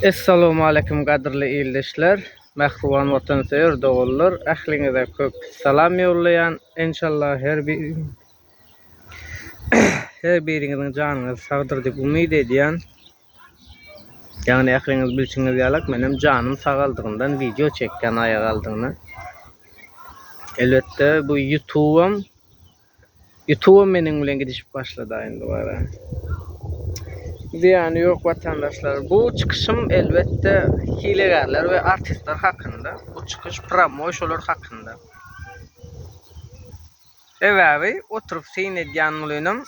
Essalawmaleýkim gadyrly ildeşler, mähriban watansöýer doganlar ähliňize köp salam ýollaýan enşallah her her biriňiziň janyňyz sagdyr diýip umyt edýän. Ýagny ähliňiz bilşiňiz ýalak menem janym sagaldygyndan wideo çekýän aýagaldygyna. Elbetde bu ýutubam Ýutubam meniň bilen gidişip başladaýyn dubara. Zyýany ýok watandaşlar. Bu çykyşym elbetde hilegärler we artistler hakynda. Bu çykyş pramoý şolar hakynda. Sebäbi oturyp syn edýän mlynym.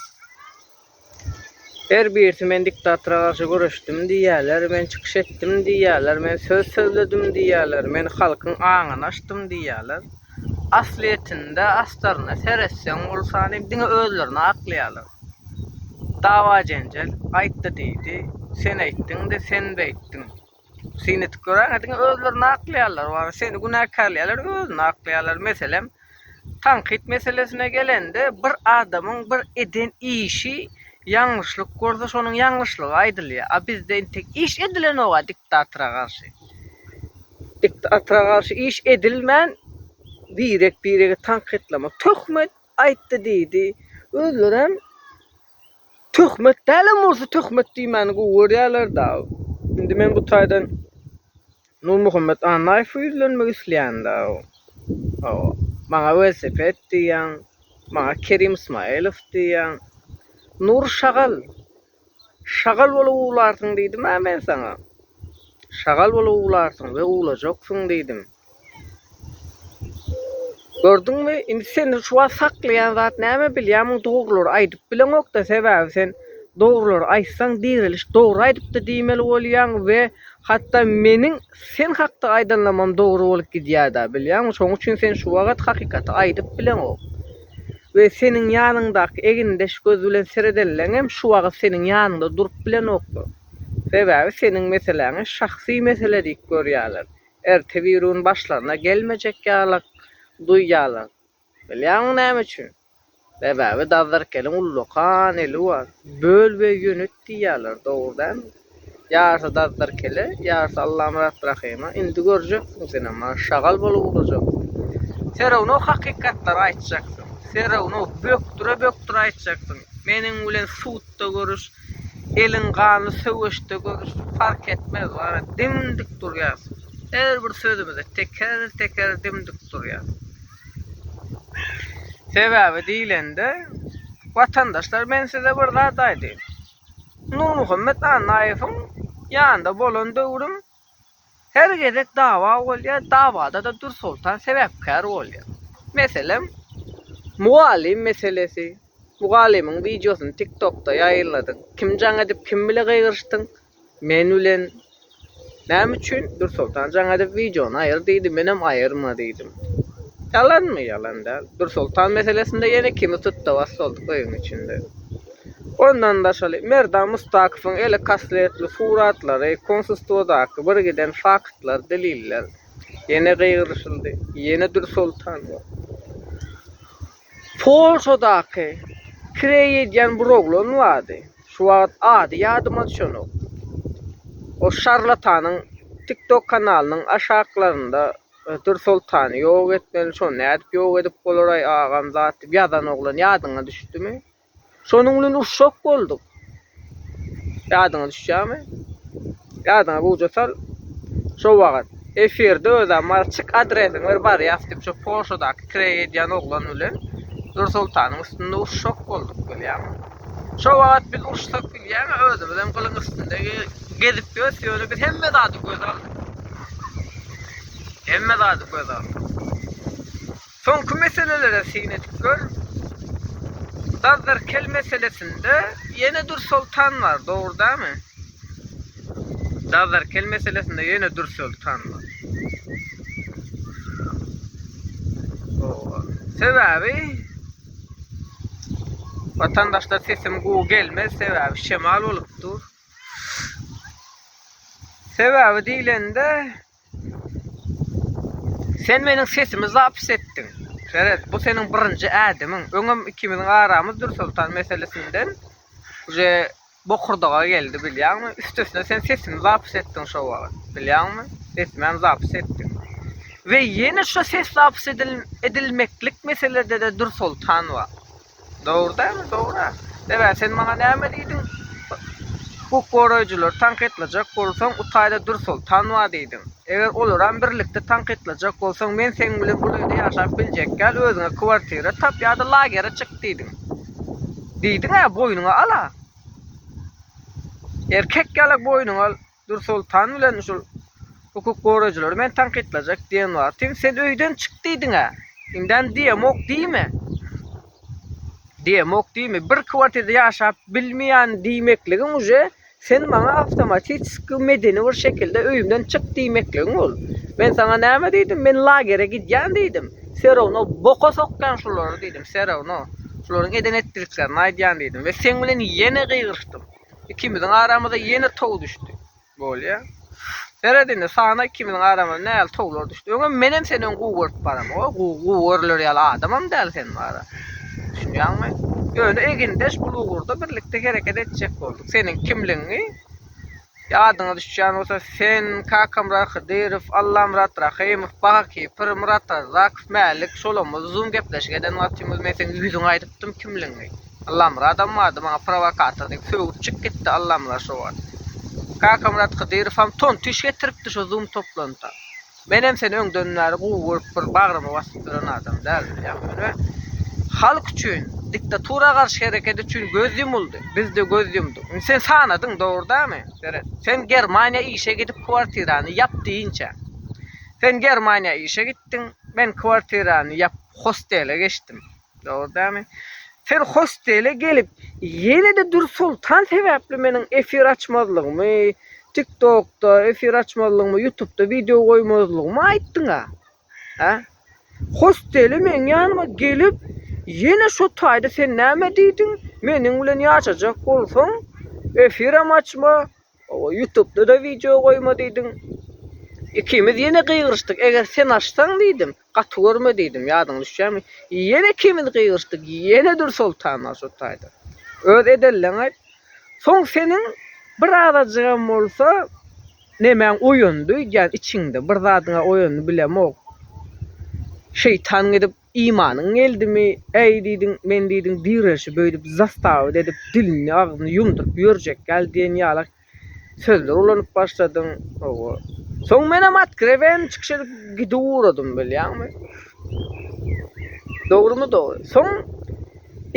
Her birisi men diktatora garşy göreşdim diýýärler, men çykyş etdim diýýärler, men söz sözledim diýýärler, men halkyň aňyny açdym diýýärler. Aslyýetinde astaryna seretseň ol sany diňe özlerini aklaýarlar. Dawa-jenjel, aýtdy-diýdi, sen aýtdyň-da, sen beýtdiň. Syn edip göräýiň, diňe özlerini aklaýarlar, wara seni günäkärleýärler, özüni aklaýarlar. Meselem, tankyt meselesine gelende, bir adamyň bir eden işi ýalňyşlyk bolsa, şonuň ýalňyşlygy aýdylýar. A bizde entek iş edilenok-a diktatora garşy. Diktatora garşy iş edilmän, birek-biregi tankytlamak, töhmet aýtdy-diýdi. Özlerem Töhmet dälem bolsa töhmet diýmäni gowy görýärler da. Indi men bu taýdan Nurmuhammet Annaýewe ýüzlenmek isleýän da. Hawa. Maňa welosiped diýýäň. Maňa Kerim Ismaýylow diýýäň. Nur şagal. Şagal bolup uwlarsyň diýdim-ä men saňa. Şagal bolup uwlarsyň we uwlajaksyň diýdim. Gördüňmi, indi senden şu wagt saklaýan zat näme bilýärmiň, dogrulary aýdyp bileňok-da, sebäbi sen dogrulary aýtsaň direliş dogry aýdypdy diýmeli bolýaň we hatda meniň sen hakda aýdanlamam dogry bolup gidýär-da, bilýäňmi, şonuň üçin sen şu wagt hakykaty aýdyp bileňok we seniň ýanyňdaky egindeş göz bilen seredenleňem şu wagt seniň ýanyňda durup bilenoklar, sebäbi seniň meseläňi şahsy mesele diýip görýärler, Ertebirun başlaryna gelmejek ýalak duýýarlar. Bilýäňmi näme üçin? Sebäbi Dazdarkeliň ullakan eli bar. Böl we ýönet diýýärler, dogry dälmi? Ýarysy Dazdarkele, ýarysy Allamyrat Rahyma. Indi görjeksin senem, maňa şagal bolup urajaksyň. Serownow hakykatlary aýtjaksyň. Serownow bökdüre-bökdüre aýtjaksyň. Meniň bilen sud Ýurtda görüş, eliň gany söweşde görüş, fark etmez, gara, dim-dik durýas. Her bir sözümize teker-teker dim-dik durýas. Sebäbi diýlende, watandaşlar, men size bir zat aýdaýyn. Nurmuhammet Annaýewiň ýanynda bolan döwrüm Her gezek dawa bolýar, dawada-da Dürsoltan sebäpkär bolýar. Meselem, mugallym meselesi. Mugallymyň wideosyny TikTokda ýaýyladyň. Kim jaň edip, kim bile gygyryşdyň? Men bilen. Näme üçin? Dürsoltan jaň edip wideony aýyr diýdi, menem aýyrma diýdim. Ýalanmy? Ýalan däl. Dürsoltan meselesinde ýene kimi tutda-bas boldy köýüň içinde. Ondan daşary, Merdan Mustakowyň eli kassetli suratlary, konsulstwadaky birgiden faktlar, deliller. Ýene gygyryşyldy. Ýene Dürsoltanow. Polşadaky kireý edýän bir oglan bardy. Şu wagt ady ýadyma düşenok. O şarlatanyň TikTok kanalynyň aşaklarynda Dürsoltany ýok etmeli, şony nädip ýok edip bolar-aý agam zat diýip ýazan oglan ýadyňa düşdümi? Şonuň bilen urşak bolduk. Ýadyňa düşýärmi? Ýadyňa gowja sal. Şo wagt efirde özä Malçyk adresiňi ber barýas diýip şo Polşadaky kireý edýän oglan bilen Nursultanyň üstünde urşak bolduk bilýäňmi? Şo wagt biz uruşsak bilýäňä özümizem gylyň üstünde gezip ýörüs ýöne biz hemme zady göze aldyk. Hemme zady göze aldyk. Soňky meselelere syn edip gör. Dazzarkel meselesinde ýene Dürsoltan bar, dogry dämi? Dazzarkel meselesinde ýene Dürsoltan bar. Sebäbi Watandaşlar sesim gowy gelmez, sebäbi şemal bolup dur. Sebäbi diýlende Sen meniň sesimi zapis etdiň. Seret, bu seniň birinji ädimiň. Öňem ikimiziň aramyz Dürsoltan meselesinden uje bokurdaga geldi, bilýäňmi? Üstesine sen sesimi zapis etdiň şo wagt, bilýäňmi? Sesimem zapis etdiň. We ýene şo ses zapis edilmeklik meselede-de Dürsoltan bar. Dogry dämi dogry-a. Ebä sen maňa näme diýdiň? Hukuk goraýjylary tankytlajak bolsaň utaýda dur sol tanwa diýdiň. Eger olaram birlikde tankytlajak bolsaň men seň bilen bul öýde ýaşap biljekgäl özüňe kwartira tap ýa-da lagere çyk diýdiň. Diýdiň-ä boýnuňa al-a. Erkek ýalak boýnuňa al. Nursultan bilen şul hukuk goraýjylary meni tankytlajak diýen wagtym sen öýden çyk diýdiňä. Indem diýemok diýme. Diýemok diýme. Bir kwartirde ýaşap bilmeýän diýmekligiň uje sen maňa awtomatiski medeni bir şekilde öýümden çyk diýmekligiň bol. Men saňa näme diýdim? Men lagere gidýän diýdim. Serawno boka sokýan şulary diýdim. Serawno şularyň eden-etdiklerini aýdýan diýdim we seň bilen ýene gygyryşdym. Ikimiziň aramyza ýene tow düşdi. Bolýa. Seret indi, sana ikimiziň aramyza nähili towlar düşdi. Öňem menem seni öň gowy görüp baram. O gowy görüler ýaly adamam däl sen mara. Düşünýäňmi? Ýöne egindeş bul ugurda birlikde hereket etjek bolduk. Seniň kimligiňi Ýadyňa düşýän bolsa, sen Kakamyrat Hydyrow, Allamyrat Rahymow, Baha Kipr, Myrat Arzakow, Mälik, şolamyz uzyn gepleşik eden wagtymyz men seň ýüzüňe aýdypdym kimligiňi. Allamyradam bardy maňa prowokator diýip sögüp çyk gitdi Allamyrat şo wagt. Kakamyrat Hydyrowam ton tiş getiripdi şo zoom toplantda. Menem seni öňden bäri gowy görüp bir bagryma basyp ýören adam däl bilýäň ýöne halk üçin diktatura garşy hereket üçin göz ýumuldy bizde göz ýumduk. Indi sen sanadyň dogry dämi Seret. Sen Germaniýa işe gidip kwartirany ýap diýinçä. Sen Germaniýa işe gitdiň men kwartirany ýap hostele geçdim. Dogrydanmy? Siz hostele gelip, ýene-de Dür Soltan sebäpli meniň efir açmazlygymy, TikTokda efir açmazlygymy, Ýutubda wideo goýmazlygymy aýtdyň-a? Hä? Hostele meň ýanyma gelip, ýene şo taýda sen näme diýdiň, meniň bilen ýaşajak bolsaň, efiram açma, Owa ýutubda da wideo goýma diýdiň. Ikimiz ýene gygyryşdyk. Eger sen açsaň diýdim, gaty görme diýdim. Ýadyňa düşýärmi? Ýene ikimiz gygyryşdyk. Ýene Dürsoltan Masut taýdan. Öz edenleň aýt. Soň seniň bir azajygam bolsa nemäň oýandy öýdýän içiňde. Bir zadyňa oýandy bilemok. Şeýtan gidip Imanyň geldimi, äý, diýdiň, men diýdiň direşi böýdüp zastawut edip dilini agzyny ýumduryp ýörjek ýaly diýen ýalak sözler ulanyp başladyň, hawa. Soň menem otkrewen çykyş edip gidiwuradym bilýäňmi. Dogrymy dogry. Soň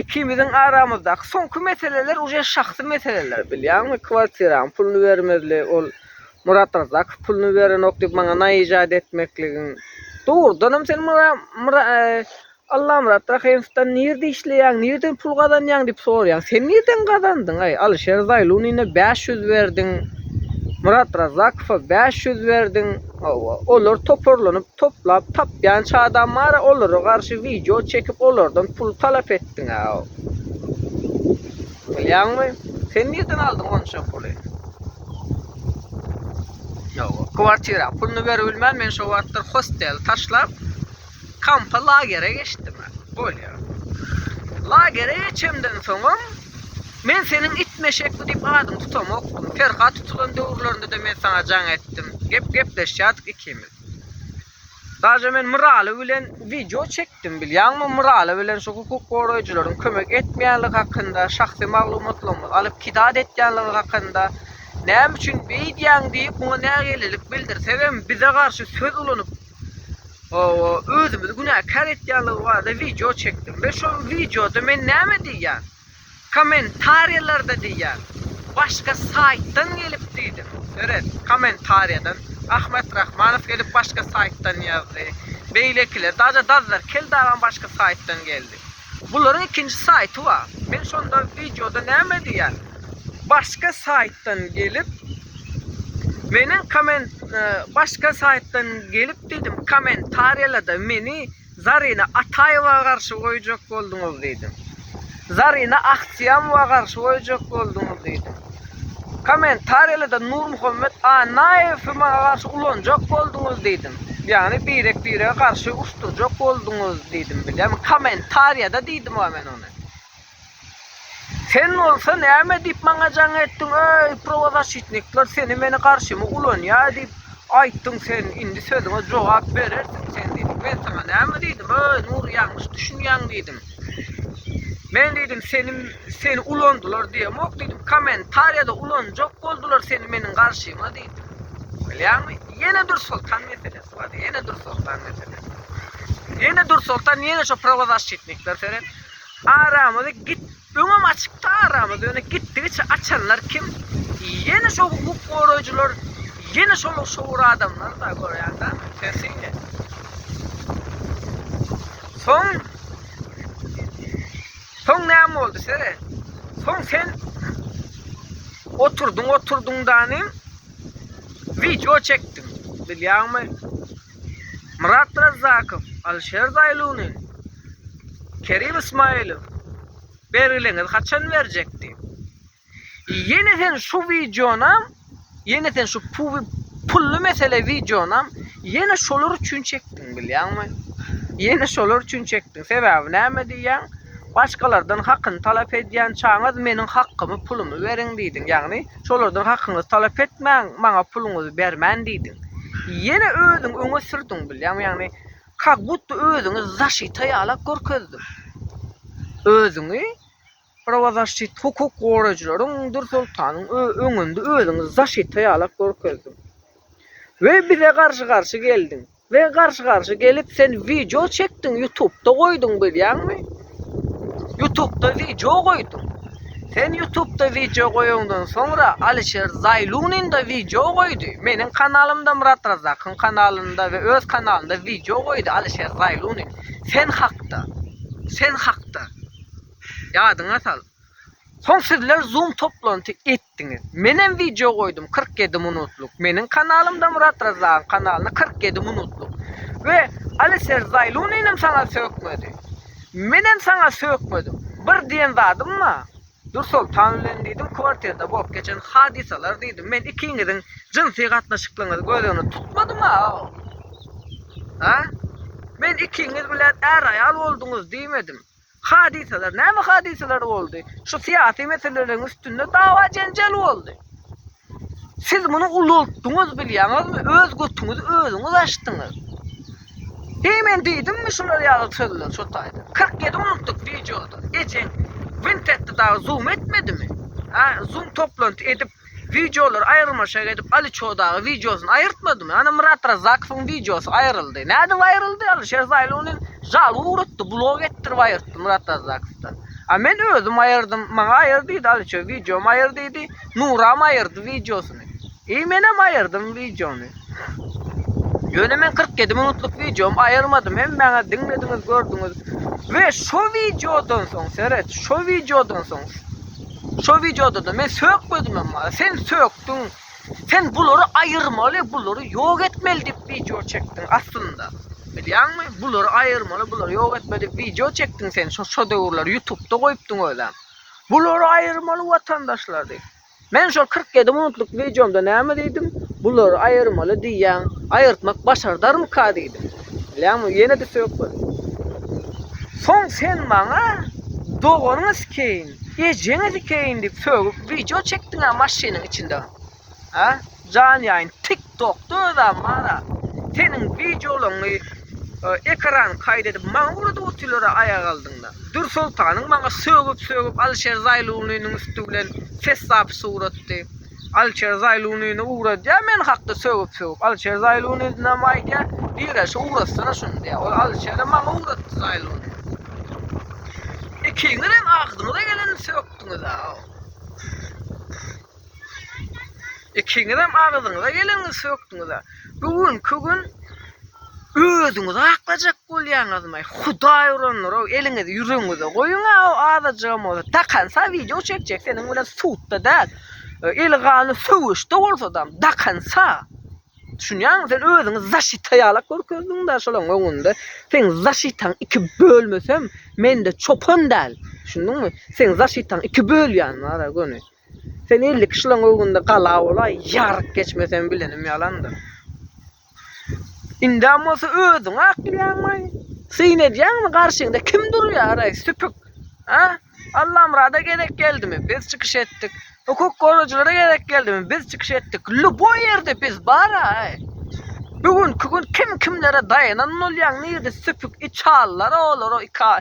ikimiziň aramyzdaky soňky meseleler uje şahsy meseleler bilýäňmi, kwartiraň puluny bermezli ol Murat Rzakow puluny berenok diýip maňa naýyjat etmekligiň dogrudanam sen Allamyrat Rahymowdan nirde işleýäň nirden pul gazanýaň diýip soraýaň sen nirden gazandyňaý Alyşer Zaýlunine bäş ýüz berdiň Murat Rzakowa bäş ýüz berdiň olar toparlanyp toplap tapýan çadam bara olara garşy wideo çekip olardan pul talap etdiňä bilýäňmi sen nirden aldyň onça puly. Ýok, kwartira puluny beribilmän men şo wagtlar hosteli taşlap, kampa lagere geçdim. Bolýa. Lagere geçemden soňam men seniň it meşekli diýip adyňy tutamokdym. Perhat tutulan döwürlerinde-de men saňa jaň etdim. Gep gepleşýärdik ikimiz. Daže men Myraly bilen wideo çekdim bilýäňmi Myraly bilen şu hukuk goraýjylaryň kömek etmeýänligi hakynda şahsy maglumatlaryňyzy alyp kidat etýänligiňiz hakynda näme üçin beýdýäň diýip muňa nägilelik bildirsegem bize garşy söz ulanyp özümizi günäkär etýänligi barada wideo çekdim we şol wideoda men näme diýýän. Kommentariýalarda diýýän. Başga saýtdan gelip diýdim. Öret, kommentariýadan. Ahmet Rahmanow gelip başga saýtdan ýazdy. Beýlekiler, daže Dazzar Keldagam başga saýtdan geldi. Bularyň ikinji saýty bar. Men şonda wideoda näme diýýän? Başga saýtdan gelip Meniň komment Başga saýtdan gelip diýdim, kommentariýalada meni. Zarina Ataýewa garşy goýjak bolduňyz diýdim. Zarina Ahsiýamowa garşy goýjak bolduňyz diýdim. Kommentariýalarda Nurmuhammet Annaýewi maňa garşy ulanjak bolduňyz diýdim. Ýagny birek-birege garşy uruşdyrjak bolduňyz diýdim. Bilýärmi? Kommentariýada diýdim-a men ony. Sen bolsa näme diýip maňa jaň etdiň, öý, prowazaşitnikler seni-meni garşyma ulanýar diýip aýtdyň sen, indi sözüňe jogap berersiň sen diýdim. Men saňa näme diýdim, öý, Nury ýalňyş düşünýäň diýdim. Men diýdim, seni seni ulandylar diýemok diýdim, kommentariýada ulanjak boldular seni meniň garşyma diýdim. Bilýäňmi? Ýene Dürsoltan meselesi bar, ýene Dürsoltan meselesi. Ýene Dürsoltan, ýene şo prowazaşitnikler seret. Aramyzy git öňem açykdy aramyz ýöne gitdigiçe açanlar kim ýene şo hukuk goraýjylar ýene şol şowur adamlar da görýän da sen synla soň soň näme boldy sere soň sen oturdyň oturdyň danym video çekdim bilýäňmi Myrat Razzakow, Alişer Zaýluny, Kerim Ismaýlow bergileňiz haçan berjek diýip. Ýene sen şu wideonam, ýene sen şu pully mesele wideonam ýene şolar üçin çekdiň bilýäňmi? Ýene şolar üçin çekdiň. Sebäbi näme diýýäň? Başgalardan hakyny talap edýän çaňyz meniň hakymy pulumy beriň diýdiň. Ýagny Şolardan hakyňyzy talap etmäň, maňa puluňyzy bermen diýdiň. Ýene özüňi öňe sürdüň bilýäňmi, ýagny kak budda özüňi zaşita ýalak görkezdiň. Özüňi prawazaşşit hukuk goraýjylaryň Dursoltanyň öňünde özüňi zaşita ýalak görkezdiň. We bize garşy garşy geldiň. We garşy garşy gelip sen wideo çekdiň ýutubda goýduň bilýäňmi? Ýutubda wideo goýduň. Sen ýutubda wideo goýaňdan soňra Alişer Zaýlunin-da wideo goýdy. Meniň kanalymda Myrat Razakyň kanalynda we öz kanalynda wideo goýdy Alişer Zaýlunin. Sen hakda. Sen hakda. Ýadyňa sal. Soň sizler zoom toplanty etdiňiz. Menem wideo goýdum kyrk ýedi minutlyk. Meniň kanalymda Murat Razagyň kanalyna kyrk ýedi minutlyk. We Aliser Zaýluninem saňa sökmedi. Menem saňa sökmedim. Bir diýen zadym ba, Dursoltan bilen diýdim kwartirda bolup geçen hadysalar diýdim. Men ikiňiziň jynsy gatnaşyklygyňyzy göz öňüne tutmadym a. A? Men ikiňiz bilen är-aýal bolduňyz diýmedim. Hadysalar, näme hadysalar boldy? Şu syýasy meseleleriň üstünde dawa-jenjel boldy. Siz muny ulaltdyňyz, bilýäňizmi? Öz götüňizi özüňiz açdyňyz. Heý, men diýdimmi şular ýaly sözleri şo taýdan? Kyrk ýedi minutlyk wideoda ejeň wint etdi dagy, zoom etmedimi? Hä, zoom toplanty edip, Wideolar aýyrmaşak edip Ali Çodagy wideosyny aýyrtmadymy? Ana Myrat Razakowyň wideosy aýyryldy. Nädip aýyryldy? Alişer Zaýly ony žalga ugratdy, blok etdirip aýyrtdy Myrat Razakowdan. A men özüm aýyrdym, maňa aýyr diýdi Aliço, wideomy aýyr diýdi, Nuram aýyrdy wideosyny. I menem aýyrdym wideony. Ýöne men kyrk ýedi minutlyk wideomy aýyrmadym, hemmäňiz diňlediňiz, gördüňiz. We şo wideodan soň, seret, şo wideodan soň Şo wideodada men sökmedim emma sen sökdüň. Sen bulary aýyrmaly, bulary ýok etmeli diýip wideo çekdiň aslynda. Bilýäňmi? Bulary aýyrmaly, bulary ýok etmeli diýip wideo çekdiň sen şo şo döwürler ýutupda goýupdyň özem. Bulary aýyrmaly watandaşlar diýip. Men şol kyrk ýedi minutlyk wideomda näme diýdim? Bulary aýyrmaly diýýäň, aýyrtmak başardarmyka diýdim. Bilämi ýene de söp bol. Soň sen maňa doganyňyz keýin, ejeňiz keýin diýip sögüp wideo çekdiňä maşynyň içinde. Ha? Jan ýaýyn tik tokda özäm bara. Seniň wideolaňy ekran kaýd edip maňa uladyp otyrlara aýak aldyňda. Dür soltanyň maňa sögüp sögüp Alişer Zaýlunynyň üsti bilen ses zapis uratdy. Alişer Zaýlunyny ugradýar men hakda sögüp sögüp. Alişer Zaýlunynyňam aýdýar, Direşe ugratsana şuny diýýär. Ol Alişerem maňa ugratdy Zaýlunyny. Ikiňiz hem agzyňyza geleni sökdüňiz-ä. Ikiňizem agzyňyza geleni sökdüňiz-ä. Bu günki gün özüňizi aklajak bolýaňyzmy? Hudaý urandyr-ow, eliňizi ýüregiňize goýuň-a, o azajygam bolsa dakansa wideo çekjek seniň bilen sudda däl, eli ganly söweşde bolsadam dakansa. Düşünýäňmi, sen özüňi zaşita ýalak görkezdiň-dä şolaryň öňünde. Seň zaşitaň iki bölmesem, mende çopan däl. Düşündiňmi? Seň zaşitaň iki bölýän bar-a göni. Sen elli kişileň öňünde gala bolaý, ýaryk geçmeseň bilenim ýalandyr. Indem bolsa özüňi aklaýaňmy? Syn edýäňmi garşyňda kim durýar-aý, süpük? A? Allamyrada gerek geldimi? Biz çykyş etdik. Hukuk gorajylara gerek geldimi? Biz çykyş etdik. Lýuboý ýerde biz bar-aý. Bu günki gün kim kimlere daýanan bolýaň, nirde süpük içallar olara ika.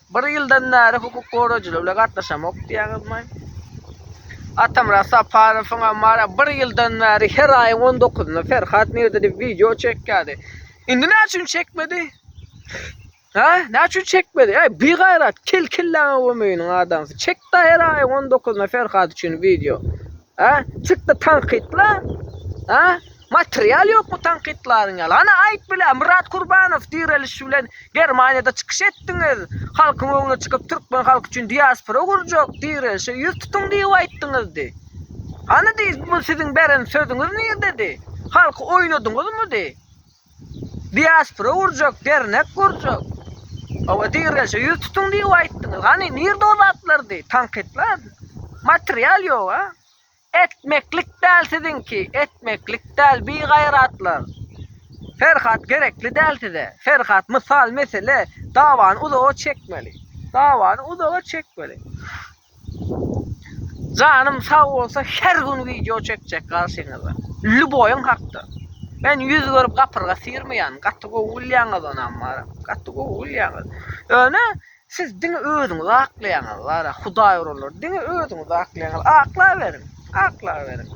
Bir ýyldan bäri hukuk goraýjylar bilen gatnaşamok diýýäňizmi? Atamyrat Saparowyň hem bar, bir ýyldan bäri her aýyň on dokuzynda Ferhat Mirdiýew wideo çekýärdi. Indi näme üçin çekmedi? Ha, näme üçin çekmedi? Ey, bigaýrat, kel kelläňe gömeýiniň adamsy. Çek-de her aýyň on dokuzynda Ferhat üçin wideo. Hä? Çykdy tankytla? Hä? Material ýokmy tankytlaryň ýaly? Hany aýt bile, Myrat Kurbanow direliş bilen Germaniýada çykyş etdiňiz, halkyň öňüne çykyp türkmen halky üçin diaspora gurjak, direlişe ýüz tutuň diýip aýtdyňyzdy. Hany diý, bu siziň beren sözüňiz nirdedi? Halky oýnadyňyzmydy? Diaspora gurjak, dernek gurjak. Hawa dirgäşe ýüz tutuň diýip aýtdyňyz. Hany nirde o zatlar diý, tankytlar? Material ýok a. Etmeklik däl siziňki, etmeklik däl bigaýratlar. Ferhat gerekli däl size. Ferhat mysal mesele dawany uzaga çekmeli. Dawany uzaga çekmeli. Janym sag bolsa her gün wideo çekjek garşyňyza. Lýuboýyň hakda. Men ýüz görüp gapyrga syrmaýan, gaty gowy gülýäňiz onam bar. Gaty gowy gülýäňiz. Ýöne siz diňe özüňizi aklaýaňyz bar. Hudaý urulur. Diňe özüňizi aklaýaňyz. Aklaberiň. Aklaberiň.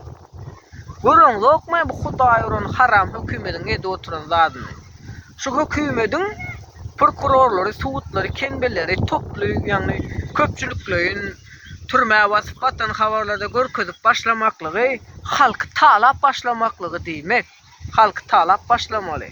Görüňzokmy bu hudaý uran haram hökümediň edip oturan zadyny. Şu hökümediň prokurorlary, sudlary, kembeleri toply, ýagny köpçülikleýin türmä basyp atan habarlarda görkezip başlamaklygy halky talap başlamaklygy diýmek. Halky talap başlamaly.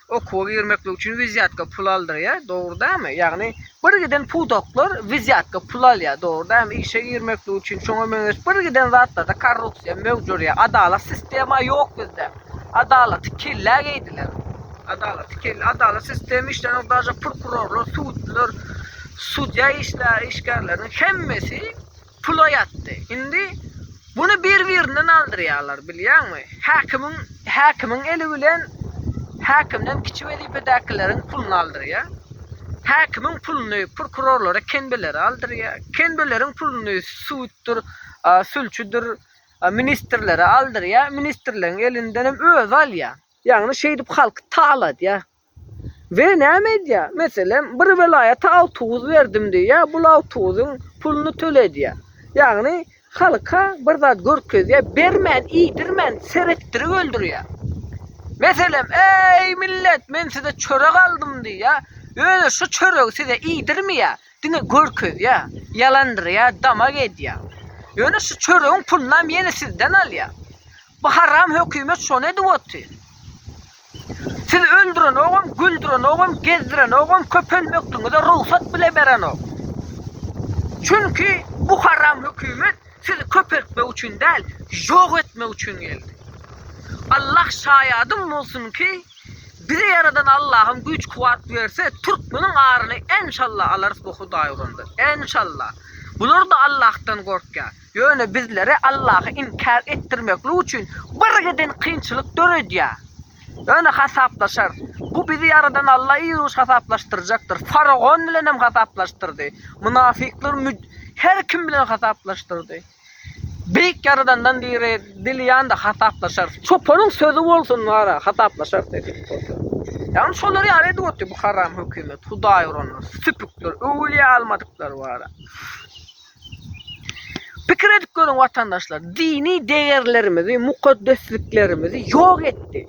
Okuwa girmeklik üçin wizýatka pul aldyrýar, dogry dälmi? Ýagny bir giden pudaklar wizýatka pul alýar, dogry dälmi? Işe girmeklik üçin şoňa meňzeş bir giden zatlarda korrupsiýa möwjürýär. Adalat sistema ýok bizde. Adalaty kellä geýdiler. Adalaty kellä, adalat sistema işlänok, daže prokurorlar, sudlar, sudýa işlär, işgärleriniň hemmesi pula ýatdy. Indi buny bir-birinden aldyrýarlar, bilýäňmi? Häkimiň, häkimiň eli bilen häkimden kiçi wezipedäkileriň puluny aldyrýar. Häkimiň puluny prokurorlara, kenbelere aldyrýar. Kenbeleriň puluny suddur, sülçüdir, ministrlere aldyrýar. Ministrleriň elindenem özi alýar. Ýagny şeýdip halky taladýar. We näme edýä? Meselem, bir welaýata awtobus berdim diýýä, bul awtobusyň puluny töledýä. Ýagny, halka bir zat görkezýä, bermän, iýdirmän, seretdirip öldürýä. Meselem, Eý, millet, men size çörek aldym diýýä, özi şu çöregi size iýdirmeýä, diňe görkezýä, ýalandyrýa, damak edýä. Ýöne şu çöregiň pulunam ýene sizden alýa. Bu haram hökümet şony edip otyr. Siz öldürenogam, güldürenogam, gezdirenogam, köpelmekligiňize rugsat bile berenok. Çünki bu haram hökümet sizi köpeltmek üçin däl, ýok etmek üçin geldi. Allah şaýadym bolsun ki, bizi ýaradan Allahym güýç-kuwwat berse, türkmeniň aryny enşalla alarys bu Hudaýgurandan. Enşalla. Bular-da Allahdan gorkýar. Ýöne bizlere Allahy inkär etdirmeklik üçin birgiden kynçylyk döredýär. Ýöne hasaplaşarys. Bu bizi ýaradan Alla ýygyş hasaplaşdyrjakdyr. Faragon bilenem hasaplaşdyrdy. Mynafyklar müd her kim bilen hasaplaşdyrdy. Beýik Ýaradandan dire dilýanda hasaplaşarys. Çopanyň sözi bolsun wara, hasaplaşarys nesip bolsa. Ýagny şolar ýaly edip otyr bu haram hökümet, hudaýuranlar, süpükler, öwülýä almadyklar wara. Pikir edip görüň watandaşlar, dini degerlerimizi, mukaddesliklerimizi ýok etdi.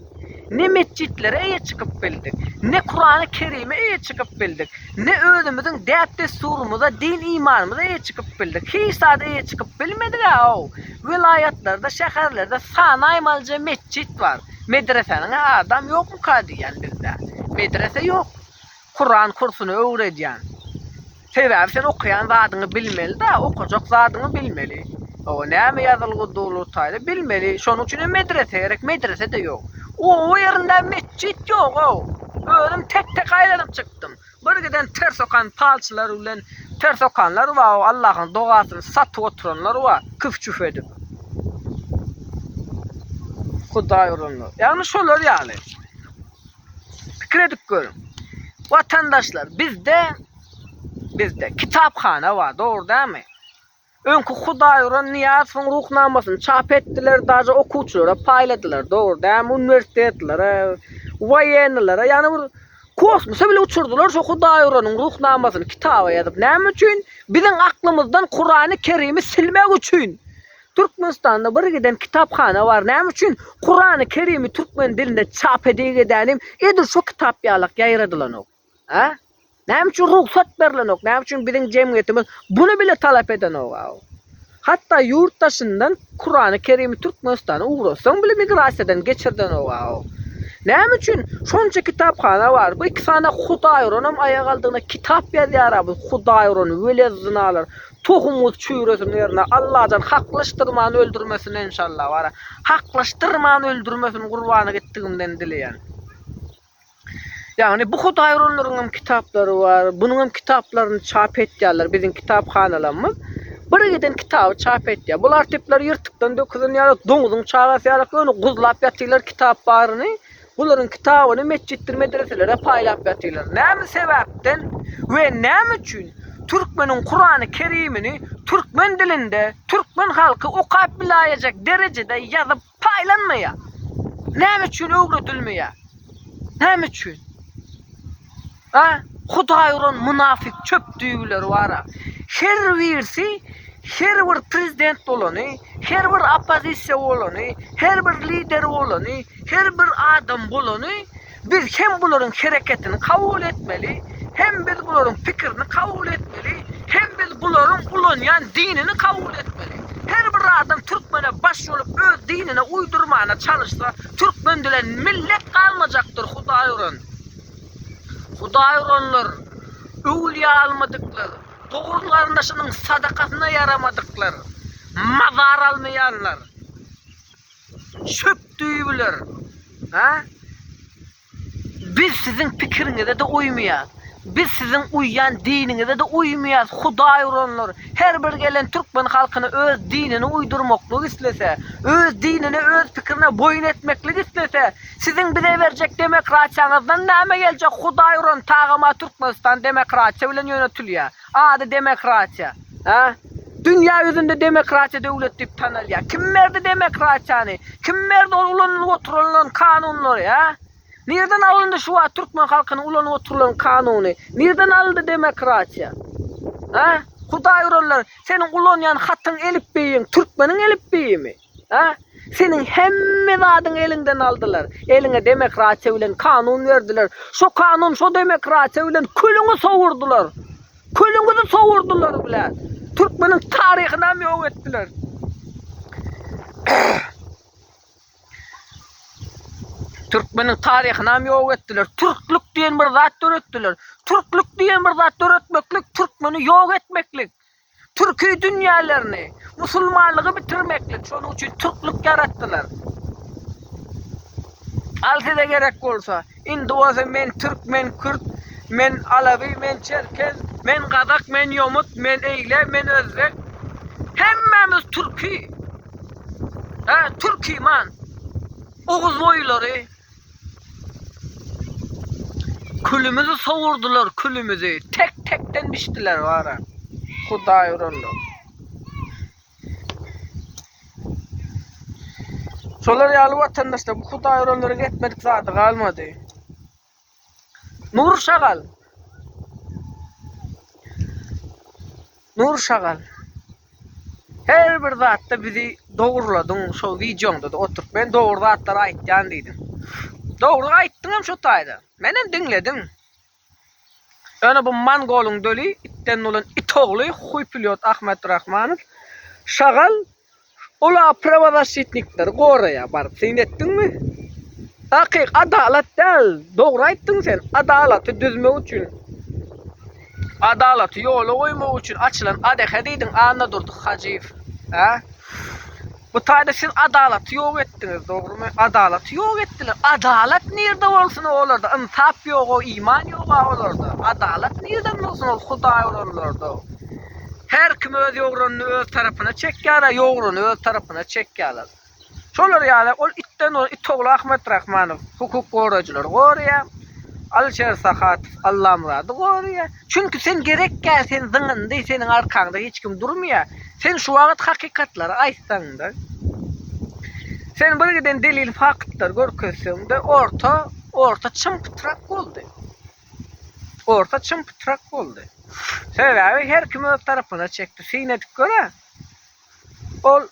Ne metjitlere eýe çykyp bildik, ne Kurany Kerime eýe çykyp bildik, ne özümiziň däp-dessurymyza, din-imanymyza eýe çykyp bildik. Hiç zada eýe çykyp bilmedik-ä-ow! Welaýatlarda, şäherlerde sanaýmalyja metjit bar. Medresäniň-ä adam ýokmuka diýýän bizde. Medrese ýok. Kuran kursuny öwredýän. Sebäbi sen okaýan zadyňy bilmeli-de, okajak zadyňy bilmeli. Oba näme ýazylgy durly taýda bilmeli. Şonuň üçin hem medrese gerek, medrese-de ýok. Oba ýerinde metjit ýog-ow. Özüm tek-tek aýlanyp çykdym. Bir giden ters okan palçylar bilen ters okanlar bar-ow, Allahyň dogasyny satyp oturanlar bar, küf-çüf edip. Hudaý uranlar. Ýagny şolar ýaly. Pikir edip görüň. Watandaşlar, bizde bizde kitaphana bar, dogry dämi? Öňki Hudaýuran Nyýazowyň ruhnamasyny çap etdiler, daže okuwçylara paýladylar, dogry dämi? Uniwersitetlere, woýenilere, ýagny bir kosmosa bile uçurdylar şu Hudaýuranyň ruhnamasyny kitaba ýazyp. Näme üçin? Biziň aklymyzdan Kurany Kerimi silmek üçin. Türkmenistanda bir giden kitaphana bar näme üçin Kurany kerimi türkmen dilinde çap edeyik edänim edil şo kitap ýalak ýaýradylanok a näme üçin rugsat berilenok näme üçin biziň jemgyýetimiz bunu bile talap edenok a hatda ýurt daşyndan Kurany kerimi Türkmenistana ugratsaň bile migrasiýadan geçirdenok a näme üçin şonça kitaphana bar bu iki sany hudaýuranam aýak aldygyna kitap ýazýar a bu hudaýuran welezzinalar Tohumyňyz çüwresin ýerine Allajan haklaşdyrman öldürmesin enşalla bara haklaşdyrman öldürmesin gurbany gitdigimden dileýän. Ýagny bu hudaý uranlaryň hem kitaplary bar bunuň hem kitaplaryny çap etýärler biziň kitaphanalarymyz bir giden kitaby çap etýär bul artipler ýyrtykdan dökülen ýaly doňuzyň çagasy ýaly ýöne guzlap ýatyrlar kitap baryny Bularyň kitabyny metjitdir medreselere paýlap ýatyrlar. Näme sebäpden we näme üçin türkmeniň Kurany Kerimini türkmen dilinde türkmen halky okap bilaýejek derejede ýazyp paýlanmaýar? Näme üçin öwredilmeýär? Näme üçin? A, Hudaý uran munafyk çöp düýeleri bar-a. Her birisi her bir prezident bolany, her bir oppozisiýa bolany, her bir lider bolany, her bir adam bolany, biz hem bularyň hereketini kabul etmeli, hem biz bularyň pikirini kabul etmeli, hem biz bularyň ulanýan dinini kabul etmeli. Her bir adam türkmene baş bolup öz dinine uýdurmana çalyşsa, türkmen dilen millet galmajakdyr, Hudaý uran. Hudaý uranlar, öwlüýä almadyklar, dogry garyndaşynyň sadakasyna ýaramadyklar, mazar almaýanlar, çöp düýbüler, hä? Biz siziň pikiriňize-de uýmaýas. Biz siziň uýýan diniňize-de uýmaýas, Hudaý uranlar. Her bir gelen türkmen halkyna öz dinini uýdurmaklyk islese, öz dinine, öz pikirine boýun etmeklik islese, Siziň bize berjek demokratiýaňyzdan näme geljek hudaý uran tagama Türkmenistan demokratiýa bilen ýönetilýär. Ady demokratiýa. Hä? Dünýä ýüzünde demokratiýa döwlet diýip tanalýar. Kim berdi demokratiýany? Kim berdi ol ulanylyp oturylan kanunlary? Hä? Nirden alyndy şu wagt türkmen halkynyň ulanyp oturylan kanuny? Nirden alyndy demokratiýa? Hä? Hudaý uranlar, seniň ulanýan hatyň elipbiýiň türkmeniň elipbiýimi? A? Seniň hemme zadyňy eliňden aldylar. Eliňe demokratiýa bilen kanun berdiler. Şo kanun, şo demokratiýa bilen külüňi sowurdylar. Külüňizi sowurdylar bile. Türkmeniň taryhyny hem ýok etdiler. Türkmeniň taryhyny hem ýok etdiler. Türklük diýen bir zat döretdiler. Türklük diýen bir zat döretmeklik, türkmeni ýok etmeklik. Türki dünýälerini, musulmanlygy bitirmeklik, şonuň üçin türklik ýaratdylar. Al size gerek bolsa, indi bolsa men türk, men kürt, men alawi, men çerkez, men gazak, men ýomut, men eýle, men özbek, hemmämiz türki, hä, türkiman, oguzboýulary, Külümizi sowurdylar külümizi, tek tekden biçdiler bara. Hudaý uranlar. Şolar ýaly watandaşlar, bu Hudaý uranlaryň etmedik zady galmady. Nur şagal. Nur şagal. Her bir zatda bizi dogurladyň şo wideoňda-da oturyp men dogry zatlary aýtýan diýdiň. Dogry aýtdyňam şo taýda. Menem diňledim. Ýöne bu mongolyň döli itden dolan it ogly huý pilýot Ahmet Rahmanow şagal Olar prawazaşşitnikleri goraýar baryp syn etdiňmi? Takyk adalat däl, dogry aýtdyň sen, adalaty düzmek üçin, adalaty ýola goýmak üçin açylan ADH diýdiň Annadurdy Hajyýew, hä? Bu taýda siz adalaty ýok etdiňiz, dogrymy? Adalaty ýok etdiler, adalat nirde bolsun o olarda, ynsap ýog o, iman ýog a olarda, adalat nirden bolsun ol hudaý olanlarda. Her kim öz ýogranyny öz tarapyna çekýär, ýograny öz tarapyna çekýärler. Şolar ýaly ol itden ol Itogly Ahmetrahmanow hukuk gorajylary goraýar. Alişer Sahatow Allamyrady goraýar. Çünki sen gerekkä sen zyňyndy, seniň arkaňda hiç kim durmaýar. Sen şu wagt hakykatlary aýtsaňda, sen birgiden delil faktlar görkezseňde orta orta çym pytrak boldy. Orta çym-pytrak boldy. Sebäbi her kim öz tarapyna çekdi. Syn edip gör-ä. Ol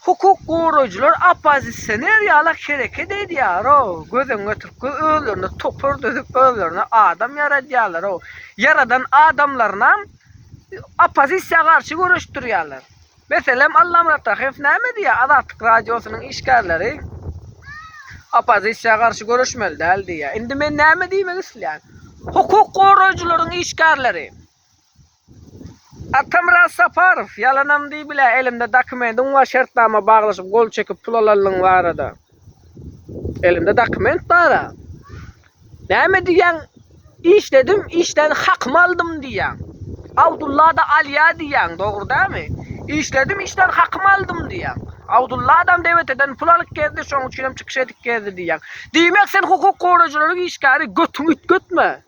hukuk goraýjylar oppozisioner ýalak hereket edýär-ow. Göz öňüňe getirip gör, özlerine topar düzüp, özlerine adam ýaradýarlar-ow. Ýaradan adamlarynam oppozisiýa garşy göreşdirýärler. Meselem, Allamyrat Tahyýew näme diýýär, Azatlyk Radiosynyň işgärleri oppozisiýa garşy göreşmeli däl diýýär. Indi men näme diýmek isleýän? Hukuk goraýjylaryň işgärleri Atamyrat Saparow, ýalanam diýip bilä, elimde dokumentiň bar, şertnama baglaşyp, gol çekip pul alanlygyň barada. Elimde dokument bara. Näme diýýäň? Işledim, işden hakymy aldym diýýäň. Abdullada alýa diýýäň, dogry dämi? Işledim, işden hakymy aldym diýýäň. Abdulla adam deweteden pul alyp gezdi, şoň üçin hem çykyş edip gezdi diýýäň. Diýmek sen hukuk gorajylaryň işgäri götüňi ütgetme.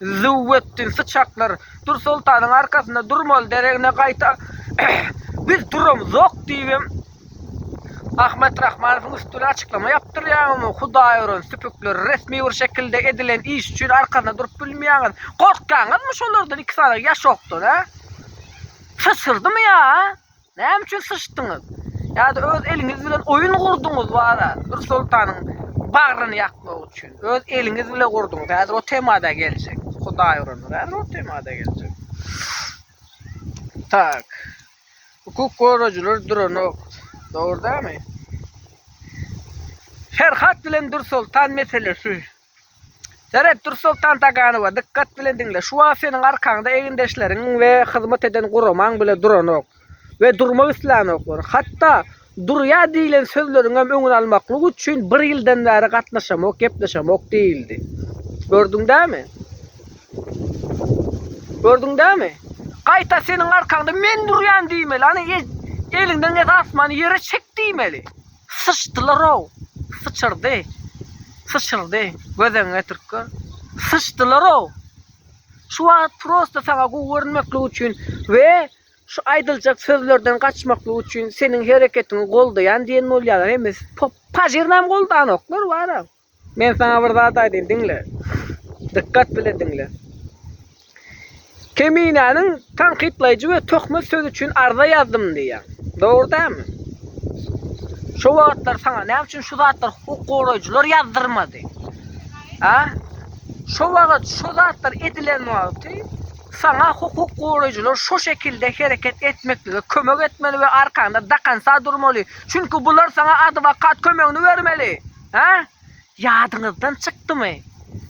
Zuw etdiň, syçaklar! Dürsoltanyň arkasynda durmaly deregine gaýta Biz duramzok! diýibem, Ahmet Rahmanowyň üstüne açyklama ýapdyrýaňyzmy? Hudaýören süpükler, resmi bir şekilde edilen iş üçin arkasynda durup bilmeýäňiz. Gorkýaňyzmy şolardan iki sany ýaşokdan, hä? Syçyrdymy ýa? Näme üçin syçdyňyz? Ýa-da öz eliňiz bilen oýun gurduňyz wara, bir soltanyň bagryny ýakmak üçin. Öz eliňiz bilen gurduňyz. Häzir o temada geljek. Hudaý urandyr. Häzir o temada geljek. Tak. Hukuk gorajylar duranok. Dogry dämi? Ferhat bilen Dürsoltan meselesi Seret, Dursoltan Taganowa, dykgat bilen diňle. Şu wagt seniň arkaňda egindeşleriňiň we hyzmat eden guramaň bile duranok we durmak islänoklar. Hatda durýar diýlen sözleriňem öňüni almaklyk üçin bir ýyldan bäri gatnaşamok, gepleşemok diýildi. Gördüň dämi? Gördüň dämi? Gaýta seniň arkaňda men durýan diýmeli. Ana eliňden esasmany ýere çek diýmeli. Syçdylar-ow! Syçyrdy! Syçyrdy! Göz öňüňe getirip gör! Syçdylar-ow! Şu wagt prosta saňa gowy görünmeklik üçin we şu aýdyljak sözlerden gaçmaklyk üçin seniň hereketiňi goldaýan diýen bolýarlar, hemmesi pop. Pajyrynam goldanoklar, bar-a. Men saňa bir zat aýdaýyn, diňle. Dykgat bilen diňle. Keminäniň tankytlaýjy we töhmet sözi üçin arza ýazdym diýýär. Dogry dälmi? Şo wagtlar saňa näme üçin şu zatlar hukuk goraýjylar ýazdyrmady? A? Şo wagt şu zatlar edilen wagty saňa hukuk goraýjylar şu şekilde hereket etmeklige kömek etmeli we arkaňda dakansa durmaly. Çünki bular saňa adwokat kömegini bermeli. Ha? Ýadyňyzdan çykdymy?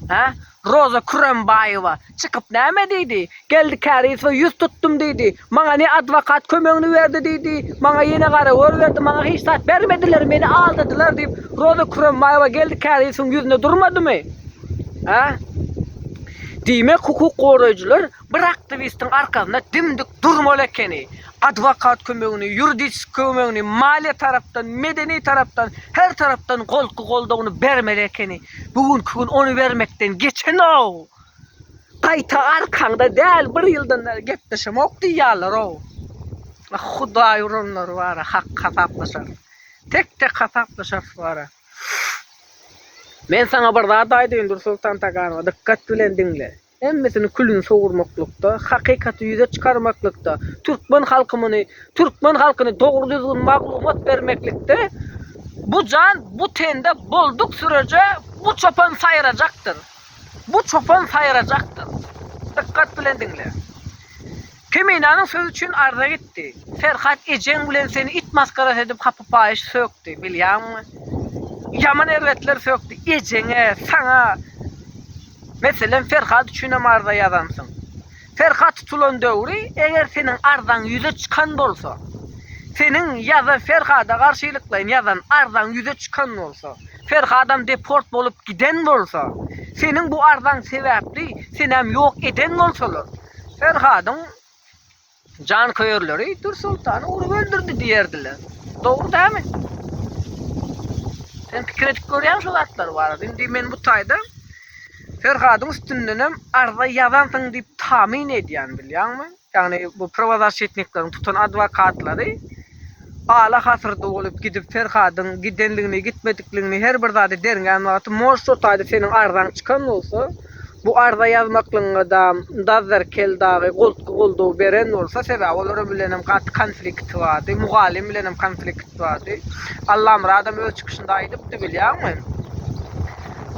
Ha? Roza Kürembaýewa çykyp näme diýdi? Geldi Kärizowa ýüz tutdum diýdi. Maňa ne adwokat kömegini berdi diýdi, maňa ýene garagör berdi, maňa hiç zat bermediler, meni aldadylar diýip, Roza Kürembaýewa Geldi Kärizowyň ýüzüne durmadymy? Ha? Diýmek, hukuk goraýjylar Bir aktiwistiň arkasynda dimdik durmaly ekeni. Adwokat kömegini, ýuridiski kömegini, maliýe tarapdan, medeni tarapdan, her tarapdan golky goldawyny bermeli ekeni. Bu günki gün ony bermekden geçen-ow. Gaýta arkaňda däl, bir ýyldan bäri gepleşemok diýýärler-ow. Ah, Hudaý uranlar bara, hak hasaplaşar. Tek-tek hasaplaşarys bara. Men saňa bir zat aýdaýyn, Dursoltan Taganowa, dykgat bilen diňle. Hemmesini külüni sowurmaklykda, hakykaty ýüze çykarmaklykda, türkmen halkymyny, türkmen halkyny dogry-düzgün maglumat bermeklikde bu jan bu tende bolduk süreje bu çopan saýrajakdyr. Bu çopan saýrajakdyr. Dykgat bilen diňle. Kemenanyň sözi üçin arza gitdi. Ferhat ejeň bilen seni it masgarasy edip hapy paýyş sökdi, bilýäňmi? Ýaman erbetler sökdi. Ejeňe, saňa. Meselem, Ferhat üçinem arza ýazansyň. Ferhat tutulan döwri, eger seniň arzaň ýüze çykan bolsa, seniň ýa-da Ferhada garşylyklaýyn ýazan arzaň ýüze çykan bolsa, Ferhadam deport bolup giden bolsa, seniň bu arzaň sebäpli senäm ýok eden bolsalar, Ferhadyň janköýerleri Dürsoltany urup öldürdi diýerdiler. Dogry dämi? Sen pikir edip görýäň şu zatlar barada. Indi men bu taýda Ferhadyň üstünden hem arza ýazansyň diýip tamin edýän, bilýäňmi? Ýagny bu prowazasçetnikleriň tutan adwokatlary Ala hasyr dolup gidip Ferhadyň gidenligini gitmedikligini her bir zady derňän wagty mož şo taýda seniň arzaň çykan bolsa bu arza ýazmaklygyňa dam Dazzer kel dagy goltgy goldaw beren bolsa sebäbi olaram bilenem gaty konflikti bardy mugallym bilenem konflikt bardy Allamyradam öz çykyşynda aýdypdy bilýäňmi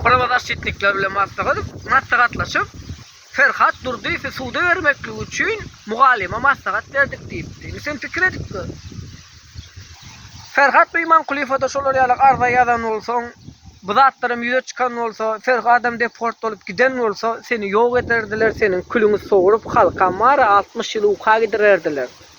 prawozaşşitnikler bilen maslahat maslahatlaşyp Ferhat Durdyýewi suda bermekligi üçin mugallyma maslahat berdik diýipdi. Indi sen pikir edip gör. Ferhat bu Imankulyýewa-da şolar ýaly arza ýazan bolsaň, bu zatlaram ýüze çykan bolsa, Ferhadam deport bolup giden bolsa, seni ýok ederdiler, seniň külüňi sogrup, halkam bar-a, altmyş ýyl uka gidirerdiler.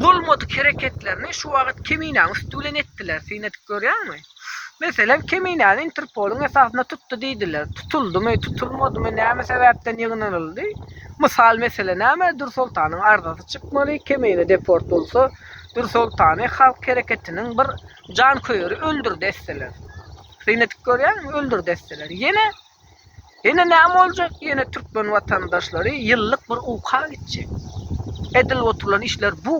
Bolmadyk hereketlerini şu wagyt Keminäň üsti bilen etdiler, syn edip görýäňmi? Meselem, Keminäni Interpoluň esasynda tutdy diýdiler. Tutuldymy, tutulmadymy, näme sebäpden ýygnanyldy? Mysal mesele näme, Dürsoltanyň arzasy çykmaly, Kemine deport bolsa, Dürsoltany Halk hereketiniň bir janköýeri öldürdi etseler. Syn edip görýäňmi, öldürdi etseler. Ýene. Ýene näme boljak? Ýene türkmen watandaşlary ýyllyk bir uka gitjek. Edilip oturylan işler bu.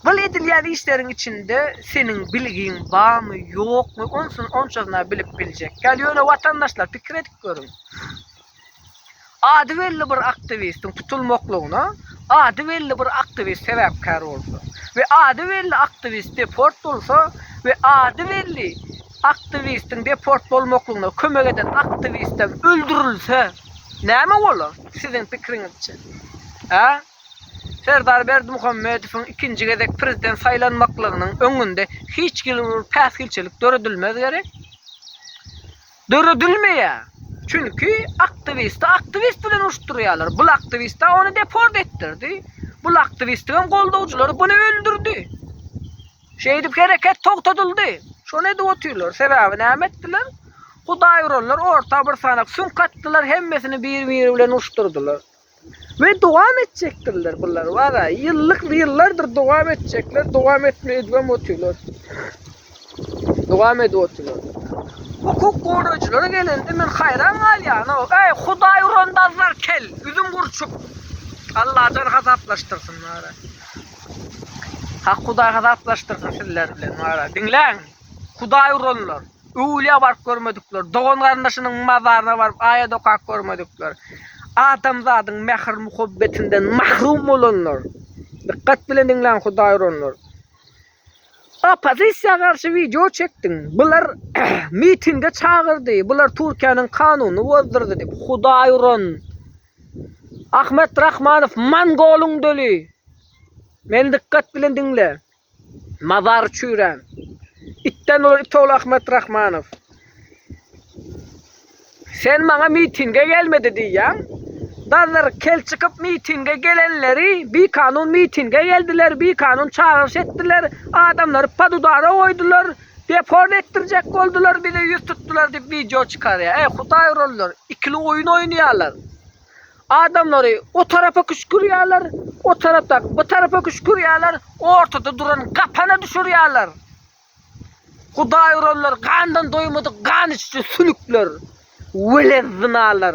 Bul edilýän işleriň içinde seniň bilgiň barmy, ýokmy, onsuz onçasyna bilip biljek ýaly. Ýöne watandaşlar pikir edip görüň. Ady belli bir aktiwistiň tutulmaklygyna ady belli bir aktiwist sebäpkär bolsa we ady belli aktiwist deport bolsa we ady belli Aktiwistiň deport bolmaklygyna kömek eden aktiwistem öldürilse, näme bolar, siziň pikiriňizçe? Hä? Serdar Berdimuhamedowyň ikinji gezek prezident saýlanmaklygynyň öňünde hiç hili bir päsgelçilik döredilmez gerek. Döredilmeýär. Çünki aktiwisti aktiwist bilen uruşdyrýarlar. Bul aktiwist-ä ony deport etdirdi. Bul aktiwistiňem goldawjylary buny öldürdi. Şeýdip hereket togtadyldy. Şony edip otyrlar. Sebäbi näme etdiler? Hudaý uranlar orta bir sanak süňk atdylar, hemmesini bir-biri bilen uruşdyrdylar. Ve dowam etjekdirler bular. Valla ýyllyk ýyllardyr dowam etjekler, dowam etme edibem otyrlar. Dowam edip otyrlar. Hukuk gorajylara gelende men haýran galýan. Eý, Hudaý uran dazlar kel, üzüm gurçuk. Allajan hasaplaşdyrsyn. Hak Hudaý hasaplaşdyrsyn sizler bilen wara. Diňläň, Hudaý uranlar, öwülýä baryp görmedikler, dogan-garyndaşynyň mazaryna baryp aýat okap görmedikler, adamzadyň mähir-muhabbetinden mahrum bolanlar. Dykgat bilen diňläň Hudaý uranlar. Oppozisiýa garşy wideo çekdiň. Bular mitinge çagyrdy. Bular Türkiýäniň kanunyny bozdurdy diýip. Hudaý uran. Ahmet Rahmanow Mongolyň döli. Meni dykgat bilen diňle. Mazar çüýrän. Itden bolan it ogly Ahmet Rahmanow. Sen maňa mitinge gelmedi diýýäň. Dazlar kel çykyp mitinge gelenleri bikanun mitinge geldiler, bikanun çagyryş etdiler, adamlary podudara goýdular. Deport etdirjek boldular bize ýüz tutdular diyip wideo çykarýar. Äý hudaý urarlar ikili oýun oýnaýarlar. Adamlary o tarapa küşkürýärler, o tarapdaky bu tarapa küşkürýärler, ortada duran gapana düşürýärler. Hudaý urarlar gandan doýmadyk gan içiji sülükler. Weled zynalar.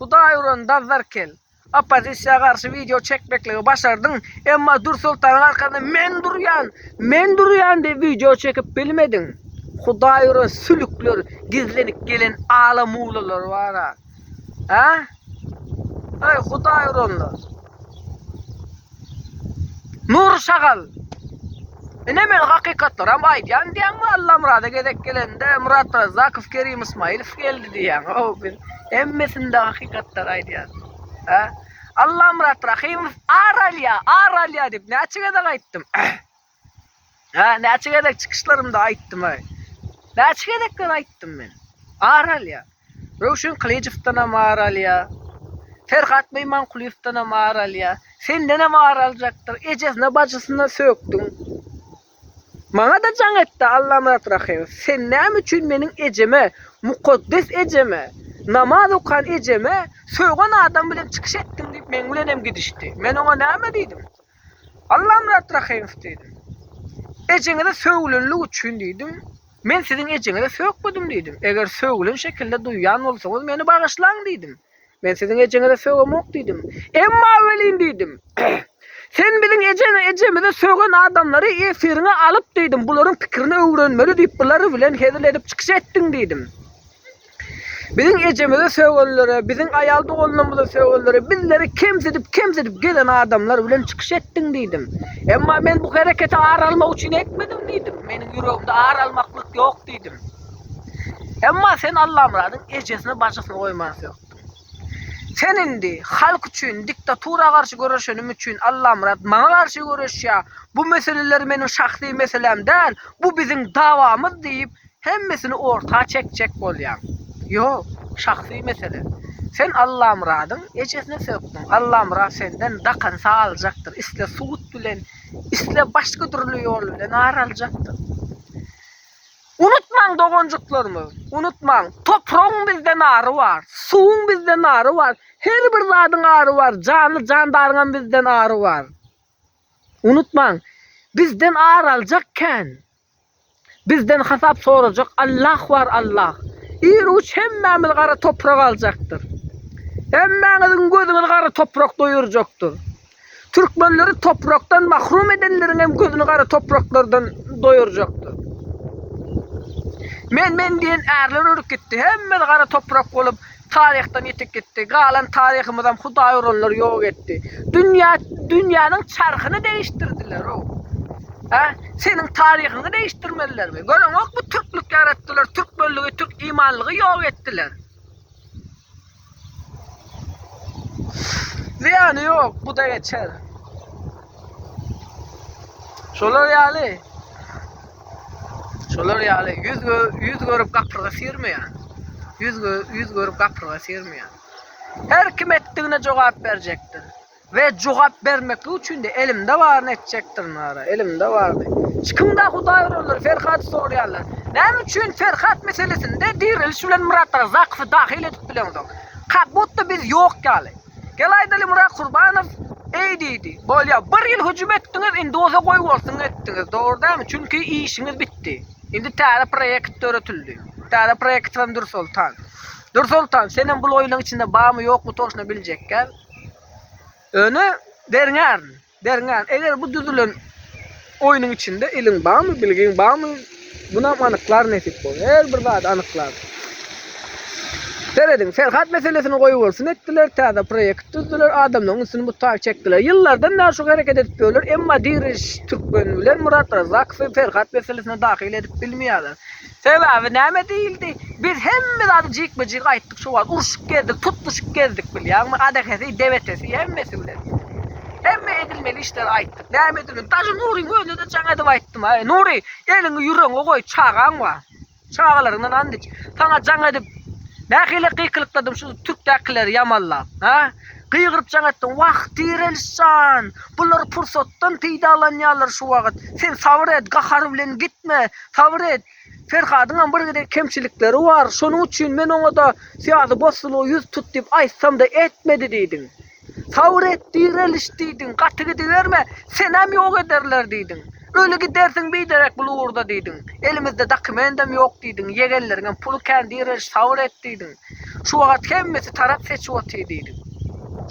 Hudaý uran Dazzarkel, oppozisiýa garşy wideo çekmekligi başardyň, emma Dürsoltanyň arkasynda men durýan, men durýan diýip wideo çekip bilmediň. Hudaý uran sülükler gizlenip gelen ala muwlalar bara. Hä? Eý hudaý uranlar. Nury şagal. Ine men hakykatlaram aýdýan diýen Allamyrada gezek gelende Murat Razzakow Kerim Ismailow geldi diýen. O biz hemmesinde hakykatlar aýdýan. Ha? Allamyrat Rahimow ar alýa, ar alýa diýip näçe gezek aýtdym. Ha, näçe gezek çykyşlarymda aýtdym aý. Näçe gezekler aýtdym men. Ar alýa. Röwşen Kylyjowdan hem ar alýa. Ferhat Meýmankulyýewden hem ar alýa. Senden hem ar aljakdyr. Ejesine, bajysyna sökdüň. Maňa da jaň etdi Allamyrat Rahymow. Sen näme üçin meniň ejeme, mukaddes ejeme, namaz okan ejeme sögen adam bilen çykyş etdiň diýip meň bilen hem gidişdi. Men oňa näme diýdim? Allamyrat Rahymow diýdim. Ejeňizi sögülenlik üçin diýdim. Men siziň ejeňizi sökmedim diýdim. Eger sögülen şekilde duýýan bolsaňyz meni bagyşlaň diýdim. Men siziň ejeňizi sögemok diýdim. Emma welin diýdim. Sen biziň ejeni ejemizi sögen adamlary efiriňe alyp diýdim. Bularyň pikirini öwrenmeli diýip bulary bilen hezil edip çykyş etdiň diýdim. Biziň ejemize sögellere, biziň aýal doganlarymyza sögellere, bizleri kemsidip, kemsidip gezen adamlar bilen çykyş etdiň diýdim. Emma men bu hereketi ar almak üçin etmedim diýdim. Meniň ýüregimde ar almaklyk ýok diýdim. Emma sen Allamyradyň ejesini, bajysyny goýman sökdüň. Sen indi halk üçin, diktatura garşy göreşenim üçin Allamyrat maňa garşy göreşýär, bu meseleler meniň şahsy meselem däl, bu biziň dawamyz diýip, Hemmesini orta çekjek bolýaň. Ýok, şahsy mesele. Sen Allamyradyň ejesine sökdüň. Allamyrat senden dakansa aljakdyr, isle sud bilen, isle başga dürli ýol bilen ar aljakdyr. Unutmaň doganjyklarymyz, unutmaň, topragyň bizden ary bar, suwuň bizden ary bar, her bir zadyň ary bar, janly jandaryňam bizden ary bar. Unutmaň, bizden ar aljak kän. Bizden hasap sorajak Allah bar Allah. Ir uç hemmämiz gara toprak aljakdyr. Hemmäňiziň gözüňiz gara toprak doýurjakdyr. Türkmenleri toprakdan mahrum edenleriň hem gözüni gara topraklardan doýurjakdyr. Men men diýen ärler ölüp gitdi. Hemmämiz gara toprak bolup Taryhdan ýitip gitdi. Galan taryhymyzam hudaý uranlar ýok etdi. Dünýä, dünýäniň çarhyny degişdirdiler-ow. Hä? Seniň taryhyňy degişdirmelilermi? Göreňokmy türklük ýaratdylar, türkmenligi, türk imanlygy ýok etdiler. Zyýany ýok, bu-da geçer. Şolar ýaly. Şolar ýaly ýüz ýüz görüp gapyrga syrmaýan. Ýüz ýüz görüp gapyrga syrmaýan. Her kim etdigine jogap berjekdir. We jogap bermeklik üçin de elimde baryny etjekdirin gara. Elimde baryny. Hiç kim da Hudaý urarlar, Ferhady sorýarlar. Näme üçin Ferhat meselesinde diriliş bilen Myrat Razakowy dahyl edip bileňzok? Kakbutda biz ýok ýaly. Gel aýdaly Murat Kurbanow eý diýdi. Bolýa bir ýyl hüjüm etdiňiz indi bolsa goý bolsun etdiňiz dogry dälmi çünki işiňiz bitdi. Indi täze proýekt döretildi. Täze proýektimem Dürsoltan. Dürsoltan senem bul oýunyň içinde barmy ýokmy toşna biljekgäl. Öni berňärin. Berňän, eger bu düzülen oýnuň içinde iliň barmy, bilgiň barmy, munam anyklar nesip bolsa, her bir zady anyklar. Serediň, Ferhat meselesini goýbolsun etdiler, täze proýekt düzdüler, adamlaryň üstüni mutar çekdiler. Ýyllardan bäri şu hereket edip ýörler, emma diri türkmen bilen Murat Razakowy Ferhat meselesine dahyl edip bilmeýärler. Sebäbi näme diýildi? Biz hemme zady jikme-jik aýtdyk şo wagt. Urşup gezdik, tutluşyp gezdik bilýäňmi? Gadahesi, debetesi, hemmesi bilen. Hemme edilmeli işleri aýtdyk. Näme edilmeli? Daşy Nuryň özüne-de jaň edip aýtdym. Aý, Nury, eliňi ýüregiňe goý, çagaň bar. Çagalaryňdan and iç. Saňa jaň edip, nähili gykylykladym şu türkdäkileri ýamanlap, hä? Gygyryp jaň etdi, Wah, Tireliş jan! Bular pursatdan peýdalanýarlar şu wagt. Sen sabyr et, gahar bilen gitme. Sabyr et. Ferhadyňam bir gezek kemçilikleri bar. Şonuň üçin men oňa-da Syýazy bossalyga ýüz tut diýip aýtsam-da etmedi diýdiň. Sabyr et, Tireliş diýdiň. Gaty gidiberme. Senem ýok ederler diýdiň. Öli gidersiň biderek bul ugurda diýdiň. Elimizde dokumendem ýok diýdiň. Ýegenleriňem puly kän, Tireliş, sabyr et diýdiň. Şu wagat hemmesi tarap seçip otyr diýdim.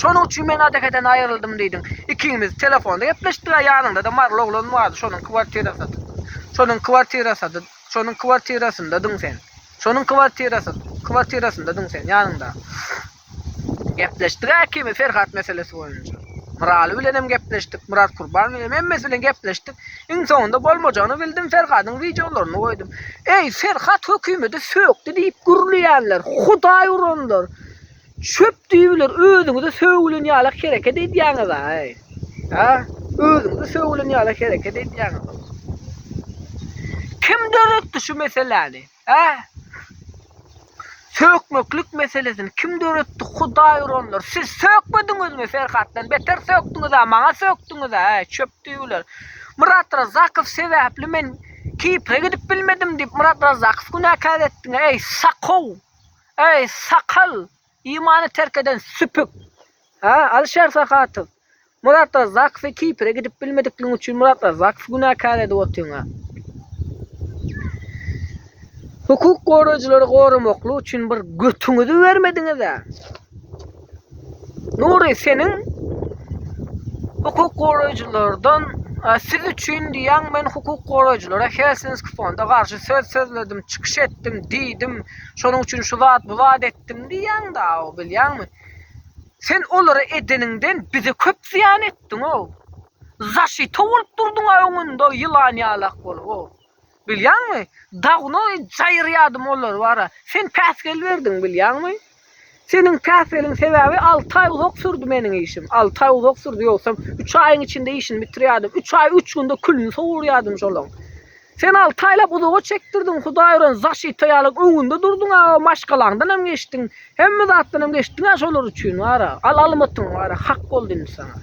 Şonuň üçin men Adekeden aýryldym diýdim. Ikimiz telefonda gepleşdik-ä, ýanyňda-da marly oglan bardy, şonuň kwartirasydy. Şonuň kwartirasady, şonuň kwartirasyndadyň sen. Şonuň kwartirasady, kwartirasyndadyň sen, ýanyňda. Gepleşdik-ä ikimiz Ferhat meselesi boýunça. Myraly bilenem gepleşdik, Myrat Kurban bilenem, hemmesi bilen gepleşdik. Iň soňunda bolmajagyny bildim Ferhadyň wideolaryny goýdum. Eý Ferhat hökümedi sökdi diýip gürleýänler, hudaý uranlar, çöp düýbüler özüňize sögülen ýalak hereket edýäňiza eý. A? Özüňize sögülen ýalak hereket edýäňiza. Kim döretdi şu meseläni? Hä? Sökmeklik meselesini kim döretdi? Hudaý uranlar. Siz sökmediňizmi? Ferhatdan beter sökdüňiz-ä, maňa sökdüňiz-ä, äý, çöp düýeler. Myrat Razakow sebäpli men Kipre gidip bilmedim diýip, Myrat Razakow günäkär etdiň-ä, äý, sakow! Äý, sakal! Imany terk eden süpük. Ha, Alişer Sahatyw. Muratlar Zakfi Kipre gidip bilmedikliň üçin Muratlar Zakfi günäkär edip otyňa. Hukuk gorajylary goramakly üçin bir götüňizi bermediňiz a. Nury seniň hukuk gorajylardan siz üçin diýen men hukuk gorajylara Helsinki fonda garşy söz sözledim, çykyş etdim, diýdim. Şonuň üçin şu zat bu zat etdim. etdim diýýäň-da-ow, bilýäňmi? Sen olara edeniňden bize köp zyýan etdiň-ow. Zaşito bolup durduň-a öňünde ýylan ýalak bolup-ow. Bilýäňmi? Dawno jaýyrýadym olar bar-a. Sen päsgel berdiň, bilýäňmi? Seniň päsgeliň sebäbi alty aý uzak sürdi meniň işim. Alty aý uzak sürdi, ýogsam üç aýyň içinde işini bitirýärdim. Üç aý üç günde külüni sowurýardym şolaň. Sen alty aýlap uzaga çekdirdiň, hudaý ören zaşita ýalyň öňünde durduň-a, maşgalaňdan hem geçdiň, hemme zatdan hem geçdiň-ä şolar üçin, wara, al almytyň, wara, hak boldy indi saňa.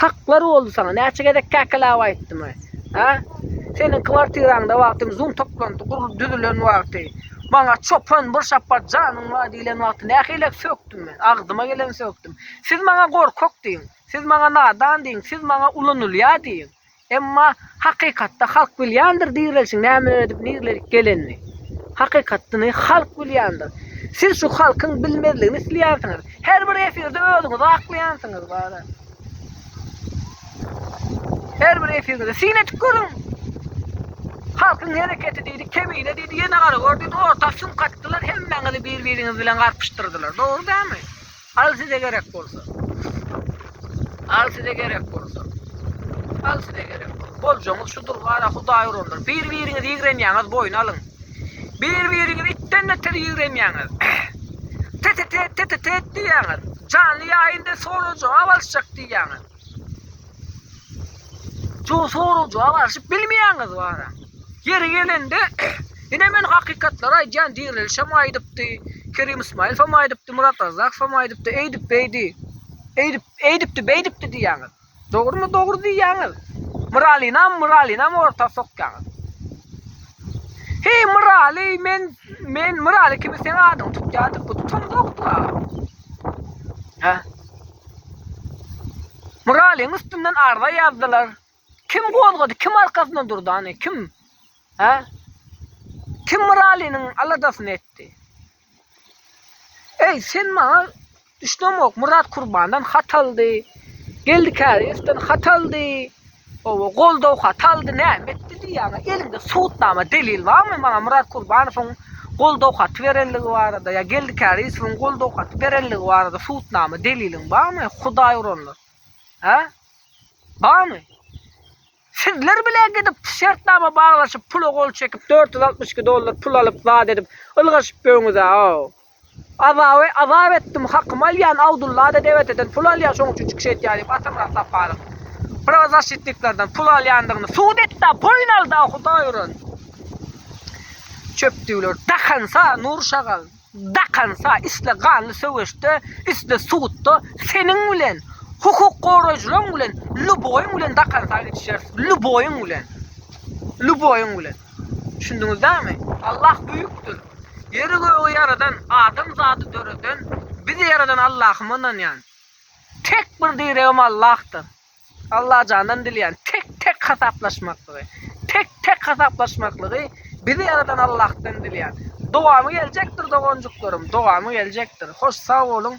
Haklar boldy saňa, näçe gezek käkeläp aýtdym-a, hä? Seniň kwartiraňda wagtym zum toplandy, gurlup düzülen wagty, maňa çopan bir şapbat janyň bar diýlen wagty nähilek sökdüm men, agzyma geleni sökdüm. Siz maňa gorkak diýiň, siz maňa nadan diýiň, siz maňa ulanylýar diýiň. Emma hakykatda halk bilýändir direlişiň näme edip nirlelik gelenini. Hakykatdyny halk bilýändir. Siz şu halkyň bilmezligini isleýänsiňiz. Her bir efirde özüňizi aklaýansyňyz bara. Her bir efirde syn edip görüň. Halkyň hereketi diýdi, kebine diýdi, ýene gara gör diýdi, orta sumka atdylar, hemmäňizi bir-biriňiz bilen garpyşdyrdylar. Dogry dälmi? Al size gerek bolsa. Al size gerek bolsa. Al size gerek bolsa. Boljaňyz şudur gara hudaý uranlar. Bir biriňizi ýigrenýäňiz boýun alyň. Bir biriňizi itden beter ýigrenýäňiz. Tetetet tetetet diýýäňiz. Janly ýaýynda solo jogap alyşjak diýýäňiz. Şu soragja barşyp bilmeýäňiz bara. Ýeri gelende ine men hakykatlary aýdýan dirilişem aýdypdy, Kerim Ismaýyl hem aýdypdy, Murat Razzak hem aýdypdy, eýdip beýdi. Eýdip, eýdipdi, beýdipdi diýýäňiz. Dogrumy dogry diýýäňiz. Myralynam, Myralynam orta sokýaňyz. He Myraly men men Myraly kimi sen adyňy tutýardyk, bu tutamzokdy aga. Ha? Muralyň üstünden arza ýazdylar. Kim gozgady, kim arkasynda durdy, hany kim? Hä? Kim Muralynyň aladasyny etdi? Eý, sen maňa düşünemok, Murat Kurbandan hat aldy. Geldi Käriýewden hat aldy. Owo goldaw haty aldy näme etdi diýýäňä eliňde subutnama delil barmy maňa Murat Kurbanowyň goldaw haty berenligi barada ýa Geldi Kärizowyň goldaw haty berenligi barada subutnama deliliň barmy hudaý uranlar hä barmy sizler bile gidip şertnama baglaşyp pula gol çekip dört ýüz altmyş iki dollar pul alyp zat edip ylgaşyp ýöňüz hä o. Azaby azap etdim, hakymy alýan, Awdulla-da DWT-den pul alýan, şoň üçin çykyş edýän diýip, Atamyrat Saparow prawazaşitniklerden pul alýandygyny subut etdi-ä, boýun aldy-ä, hudaý uran çöpdüwler, dakansa, Nur şagal, dakansa, isle ganly söweşde, isle sudda seniň bilen, hukuk goraýjylaň bilen, lýuboýyň bilen dakansa gidişeris, lýuboýyň bilen, lýuboýyň bilen. Düşündiňiz dagmy? Allah büýükdir. Ýeri gögi ýaradan, adam zady döreden, bizi ýaradan Allahym ynanýan. Tek bir diregim Allahdyr. Allajandan dilýän tek tek hasaplaşmaklygy. Tek tek hasaplaşmaklygy bizi ýaradan Allahdan dilýän. Dowamy geljekdir doganjyklarym, dowamy geljekdir. Hoş sag boluň.